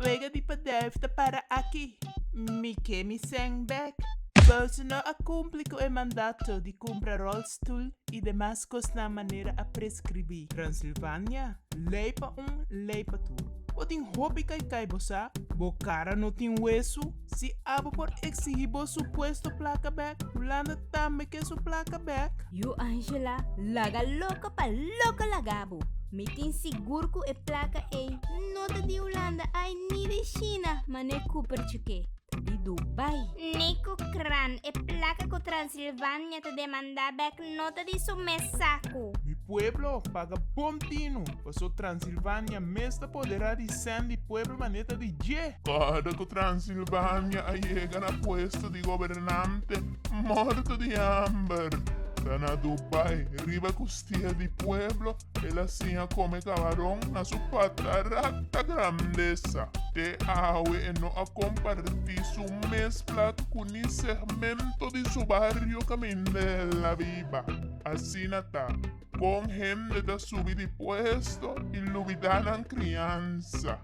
Wega di padèf ta para aki. Mi ke mi sèn bèk. Boso no a kumpli ku e mandato di kumpra ròlstul i demas kosnan manera a preskribí. Transilvania, lei pa un, lei pa tur. Bo tin hopi kaikai bo sa? Bo kara no tin wesu? Si abo por exigi bo su puesto placa bek, Hulanda tambe ke su placa bek. Yu Angela laga loco pa loco laga bo. Mi tin sigur cu e placa ey no ta di Hulanda ay ni di China, ma no e cupertje ke ta di Dubai. Ni cu cran e placa cu Transilvania ta demanda bek Ep no ta di su mes saku. Mi pueblo paga bon tinu. Paso Transilvania mes ta podera di Sandy pueblo maneta di dje. Kòrda ku Transilvania a yega na puesto di gobernante morto di hamber ta na Dubai riba ku stia di pueblo. El a siña come camarón na su pata rata grandesa. Te awe e no a comparti su mes plat cu ni segmento di su barrio caminda el a biba. Asina ta, con hende ta subi di puesto y lubida nan criansa.